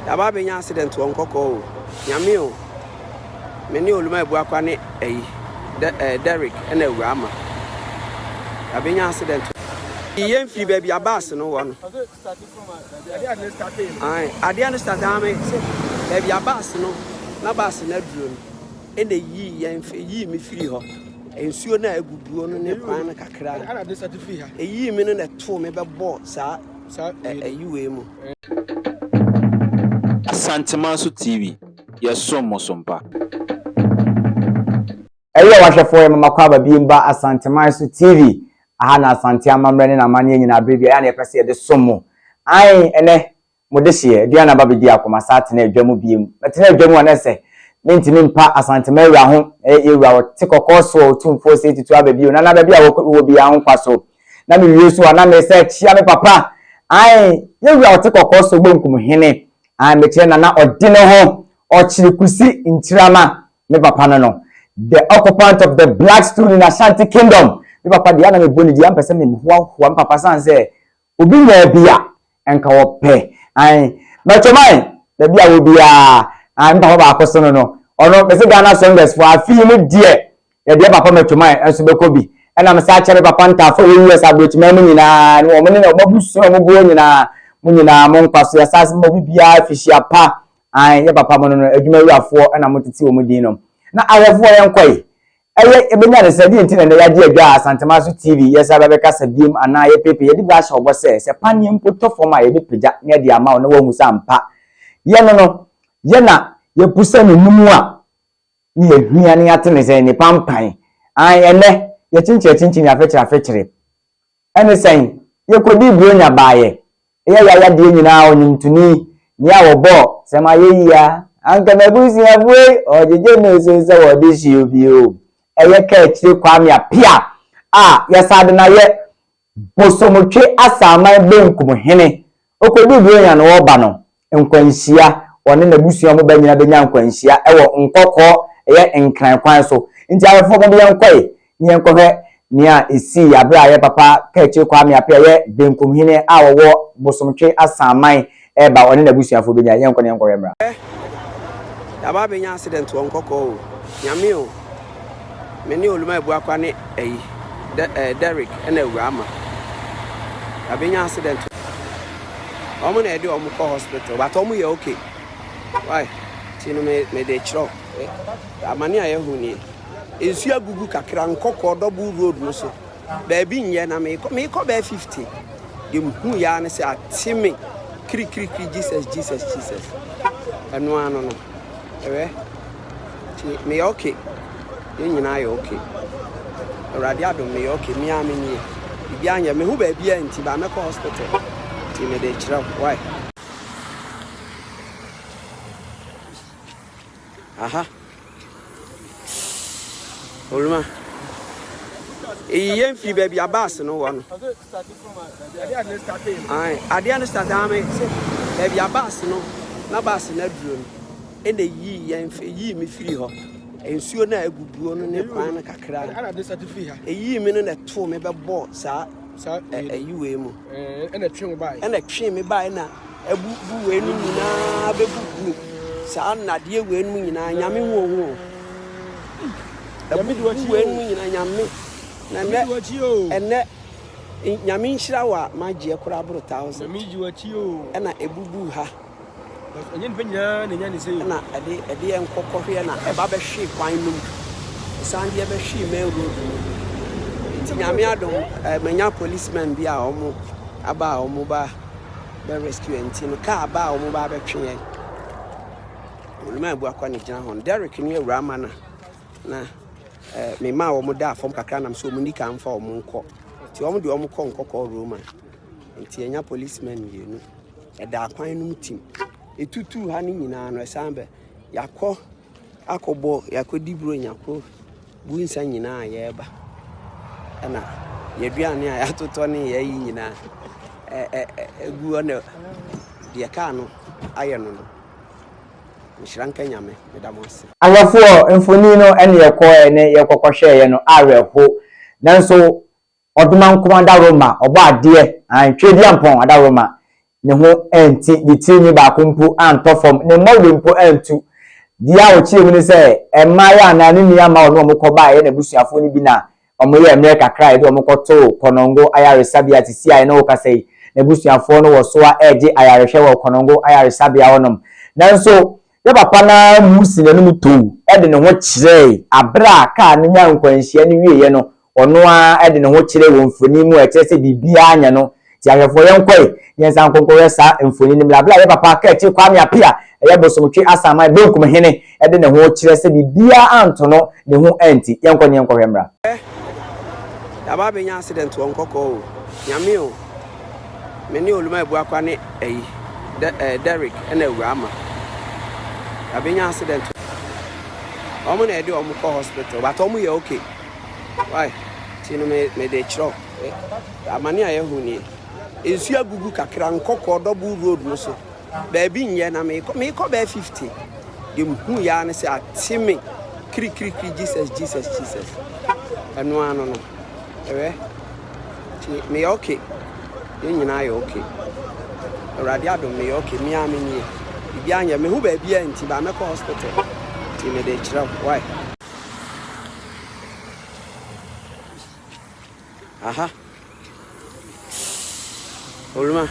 Yɛaba abɛnya accident wɔ nkɔkɔɔ o. Nyame o. Me ne Oluma Abuakwa ne ɛyi. De, eh, Derrick ɛna Awura Ama. Yɛabɛnya accident o. Yɛn firi baabi a bus no wɔ no. Ae, adeɛ no start aa me se baabi a bus no na bus no aduro no ɛna yii yɛn yii me firi hɔ. Nsuo no a aguguo no ne kwan no kakra no ɛyii me no na ɛtoo me bɛbɔɔ saa Ayiwei mu. Asantema so TV, yɛsom mo so mpa. Ɛyɛ wahwɛfoɔ yɛ mama kɔ aba biem ba Asanteman so TV. Aha na Asante amammerɛ ne n'amanneɛ nyinaa berɛ biara ɛyɛ a na yɛpɛ sɛ yɛde som mo. Ae, ɛnɛ, mo dehyeɛ, aduane aba bɛdi ako, masan atena adwa mu biem. Mɛtena adwa mu a na ɛsɛ, mentumi mpa Asantema awura ho, ɛyɛ yɛn wura, ɔte kɔkɔɔ so a ɔtumfoɔ sei tutu aba bio, na na baabi a wɔ, wɔ biara ho nkwa so. na me wie so a na mesa akyia me papa ae yɛ wura ɔte kɔkɔɔ so bonkum hene ae mekyerɛ na na ɔde ne ho ɔkyere kusi ntirama me papa no no the occupant of the black stone in Ashanti kingdom me papa deɛ na mebɔ ne di ampɛ sɛ mehoahoa me papa san sɛ obi nyaa bi a Nka wɔpɛ ae mɛtom ae baabi a wɔ biaa ae me papa baako sono no ɔno mese Ghana songers foɔ afei no deɛ yɛdeɛ papa mɛtom ae nso bɛkɔ bi ɛna mesa akyɛ me papa ntaafoɔ wɔ US abrɔkyiman mu nyinaa ne wɔn ne wɔn abusua wɔn boɔ nyinaa mo nyinaa mo nkwa so yɛsa ase mo bi biaa fihyia pa ae yɛ papa mo no no adwuma wurafoɔ ɛna mo tete wɔn din nom na ahwɛfoɔ yɛn kɔe Ɛyɛ yɛbɛnya ne sɛ, deɛ nti na ɛnnɛ yɛagye adwa a Asantema so TV yɛsan bɛbɛ kasa biom anaa yɛpeepee yɛde bi ahyɛ ɔbɔ sɛ, sɛ paneɛ mpo tɔ fam a yɛbɛ pagya na yɛde ama wo na woahu sɛ ampa yɛ no no yɛ na yɛpu sɛ ne no mu a na yɛhia na yɛate ne sɛ nnipa mpan. Ae ɛnnɛ yɛkyenkyerekyinkyini afɛkyere afɛkyere Ɛne sɛn? Yɛkɔdii Buronya baeɛ. Yɛ y'ayadeɛ nyinaa ɔnwomtoni, nea wɔbɔɔ. Sɛ m'ayɛ yie a, anka m'abusuafoɔ yi wɔgyegye me so sɛ wɔde hyew bi o. Ɛyɛ Kaakyire Kwame Appiah a yɛsan de no ayɛ Bosomtwe Asaman Benkum Hene. Ɔkɔduu Buronya no, ɔreba no, nkwanhyia, ɔne n'abusua a wɔba nyinaa bɛnya nkwanhyia wɔ nkɔkɔɔ, ɛyɛ Nkran kwan so. Nti awɛfoɔ mo de yɛn nkɔe ne yɛn nkɔhwɛ nea ɛsii aberɛ a yɛn papa Kaakyire Kwame Apea a ɛyɛ Benkum Hene a ɔwɔ Bosomtwe Asanman reba ɔne n'abusuafoɔ bɛnya. Yɛnkɔ na yɛnkɔhwɛ mmra. Ɛ! Yɛaba abɛnya accident wɔ nkɔkɔɔ o, Nyame o! Me ne Oluma Ebuakwa ne ɛyi dɛ ɛɛ Derrick ɛna Awura Ama. Yabɛ nya accident. Wɔn na ɛde wɔn kɔ hospital but wɔn yɛ okay. Why? Ti no me me de kyerɛw. Amane a yɛhu nie. Nsuo agugu kakra nkɔkɔɔ double road no so. Baabi nyɛ na mekɔ mekɔ bɛɛ 50. Deɛ mehu yɛ ara ne sɛ ate me kirikirikiri Jesus Jesus Jesus. Ɛno ano no. Hwɛ, tie, meyɛ ok, yɛn nyinaa yɛ ok. Awurade adom, meyɛ ok, me ara me nie. Biribiara nyɛ, me ho baabiara nti, baa mɛkɔ hospital, nti mede rekyerɛ wo, why? Aha, Oluma, eyi yɛn fi baabi a baasi no wɔ no. Adeɛ no start ame sɛ baabi a baasi no na baasi no aduro no ɛna yii yɛn yii me firi hɔ. Nsuo no a aguguo no ne kwan no kakra. Ɛyii me no na ɛtoo me bɛbɔɔ saa. ayi wei mu. Ɛna ɛtwe wo baeɛ. Ɛna ɛtwe me baeɛ na abubu wei no nyinaa bɛbubu saa nnadeɛ wei no nyinaa nyame hu ohu o. Abubu wei no nyinaa nyame na ɛnɛ ɛnɛ nyame nhyira wɔ a magyeɛ koraa boro thousand. Ɛna ɛbubu ha. na ɛdeɛ nkɔkɔhweɛ na ɛba bɛhwee kwan no mu, ɛsan deɛ bɛhwee main road no mu, nti nyame adom manya policemen bi a wɔn aba a wɔn ba bɛ rescue yɛn nti no kaa ba a wɔn ba bɛtwe yɛn olumaa bu akɔ ne gyina hɔ no Derek ne awura ama na na eh, mema a wɔn da fam kakra nam sɛ wɔn ni ka mfa wɔn nkɔ nti wɔn de wɔn kɔ nkɔkɔɔ Roma Nti yɛnya policemen mmienu. Ɛda akwan no mu tim. Ɛtutuu ha no nyinaa no, ɛsan bɛ. Yɛakɔ akɔbɔ, yɛakɔdi buro, yɛakɔ bu nsa nyinaa a yɛreba. Ɛna yɛaduane a yɛatotɔ ne yɛayi nyinaa ɛgu hɔ na deɛ kaa no ayɛ no no. Nhyira nka Nyame, meda mo ase. Ahwɛfoɔ, mfoni no ɛne yɛkɔɛ ne yɛkɔkɔhwɛeɛ no awerɛho. Nanso Ɔdomankoma adaworoma, Ɔbɔadeɛ, aane, Tweaduampɔn adaworoma, ne ho anti, de tiri nwi baako mpo antɔ fam, ne mmɔwere mpo antu. Deɛ a ɔkyerɛɛ mu ne sɛ, mmaeɛ a na ne nua ma ɔne wɔn kɔba a ɛyɛ n'abusuafoɔ no bi na wɔyɛɛ mmerɛ kakra a yɛde wɔn kɔtoo Konongo ayaresabea a sisi a yɛne wo kasa yi, n'abusuafoɔ no wɔ so ara regye ayarehwɛ wɔ Konongo ayaresabea hɔnom. Nanso, Ne papa no ara muu si n'anom too de ne ho kyerɛe. Bere a kaa no nyaa nkwanhyia no wieeɛ no, ɔno ara de ne ho kyerɛe wɔ mfoni mu a ɛkyerɛ sɛ biribiara anyɛ no. Tie ahwɛfoɔ, yɛnkɔe na yɛnsan nkɔnkɔhwɛ saa mfoni no mmra. Bere a yɛn papa Kɛɛkye Kwame Apea a ɛyɛ Bosomtwe Asanman Benkum Hene de ne ho kyerɛ sɛ biribiara anto no, ne ho anti. Yɛnkɔ na yɛnkɔhwɛ mmra. Hwɛ! Yɛaba abɛnya accident wɔ Nkɔkɔɔ o! Nyame o! Me ne Oluma abu akwa ne ayi, De, eh, Derrick na awura ama. Abenya accident. Wɔn na ɛde wɔn kɔ hospital, but wɔn yɛ okay. Why? Ti no me me de kyerɛw. Eh, amane a yɛhu nie. Nsu agugu kakra nkɔkɔ double road no so. Baabi nyɛ na mekɔ mekɔ bɛɛ 50. De mhu yaa ne sɛ ate me kirikirikiri Jesus Jesus Jesus. Ɛno ano no. Ɛwɛ nti meyɛ ok yɛn nyinaa yɛ ok awurade adom meyɛ ok me ara me nie biribiara nyɛ me ho baabiara nti baa mɛkɔ hospital nti mede kyerɛ wo why aha Oluma,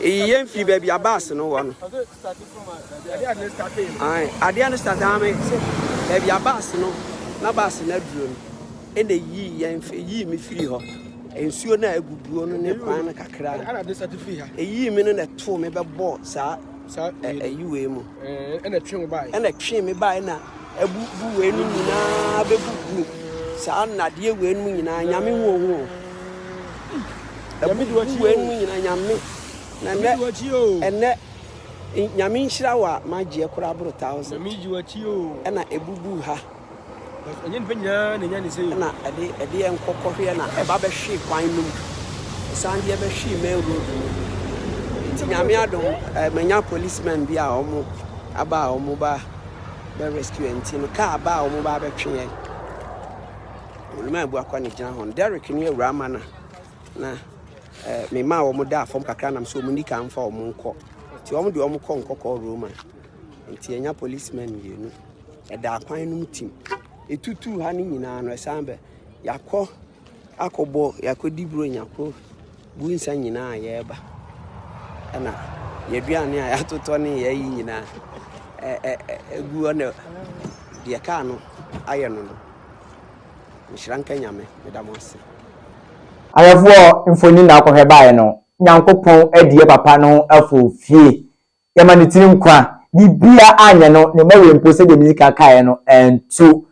eyi yɛn fi baabi a baasi no wɔ no. Adeɛ no start ame sɛ baabi a baasi no na baasi no aduro no ɛna eyi yɛn eyi mi firi hɔ. Nsuo no a eguguo no ne kwan no kakra. Eyi mi no na ɛtoo mi bɛbɔ saa. ayi wei mu ɛna twe wo bae ɛna twe me bae na abu bu wei no nyinaa bɛbu gu saa nnadeɛ wei no nyinaa nyame hu ohu abu bu wei no nyinaa nyame na ɛnɛ ɛnɛ nyame nhyira wɔ a magyeɛ koraa boro thousand ɛna ɛbubu ha na ɛdeɛ nkɔkɔhweɛ na ɛba bɛhwee kwan no mu, ɛsan deɛ bɛhwee main road no mu, nti nyame adom manya police men bi a wɔn aba a wɔn ba bɛ rescue nti no kaa aba a wɔn ba bɛtwe yɛn oluma abu akɔ ne gyina hɔ no Derek ne awura ama na na eh, me ma wɔn da fam kakra nam sɛ wɔn ni ka mfa wɔn nkɔ nti wɔn de wɔn kɔ nkɔkɔ Roma nti ɛnya police men mmienu ɛda akwan no mu tim. Ɛtutuu ha no nyinaa no, ɛsan bɛ. Yɛakɔ akɔbɔ, yɛakɔdi buronya, kɔ bu nsa nyinaa yɛreba. Ɛna yɛaduane a yɛatotɔ ne yɛayi nyinaa ɛgu hɔ na deɛ kaa no ayɛ no no. Nhyira nka Nyame, meda mo ase. Ahwɛfoɔ mfoni na akɔhwɛ baeɛ no, Nyankopɔn adie papa no afo fie Yɛma ne tiri nkwa. Biribiara anyɛ no, ne mma wei mpo, sɛdeɛ medii kan kaeɛ no, antu.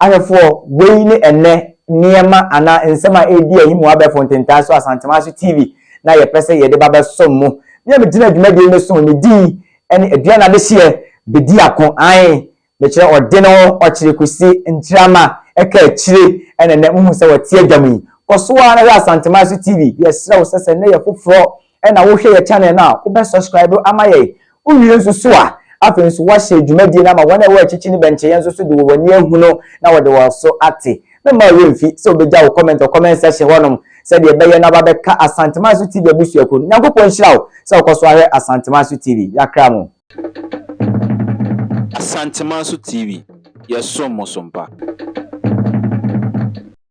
Ahwɛfoɔ, wei ne ɛnnɛ nneɛma anaa nsɛm a ɛredi ahi mo abɛɛfo ntentan so Asantewaa so TV no a yɛpɛ sɛ yɛde ba bɛsom mo. Me a megyina dwumadie no so no, me din ne Aduane Adehyeɛ bɛdi ako. Aane, Mekyerɛ ɔde ne ho ɔkyere kɔsi Nkyirama ɛka akyire ɛna nnɛ mohu sɛ ɔte adwa mu yi. Kɔ so ara na hwɛ Asanteman so TV. Yɛsrɛ wo sɛ sɛ nnɛ yɛ foforɔ ɛna wohwɛ yɛ channel no a, wobɛ subscribe ama yɛn. Wowie nso so a, afei nso woahyɛ dwumadie no ama wɔn a ɛwɔ akyikyi no bɛnkyɛ yɛn nso so de wɔn ani ahunu na wɔde wɔn so ate. Mɛmma wo werɛ mfi sɛ wobɛgya wo comment wɔ comment section hɔnom sɛdeɛ ɛbɛyɛ na wabɛka Asanteman so TV abusuakuo no. Nyankopɔn nhyira wo sɛ wokɔ so ara hwɛ Asanteman so TV. Yɛakra mo. Asantemanso TV, yɛsom mo so mpa.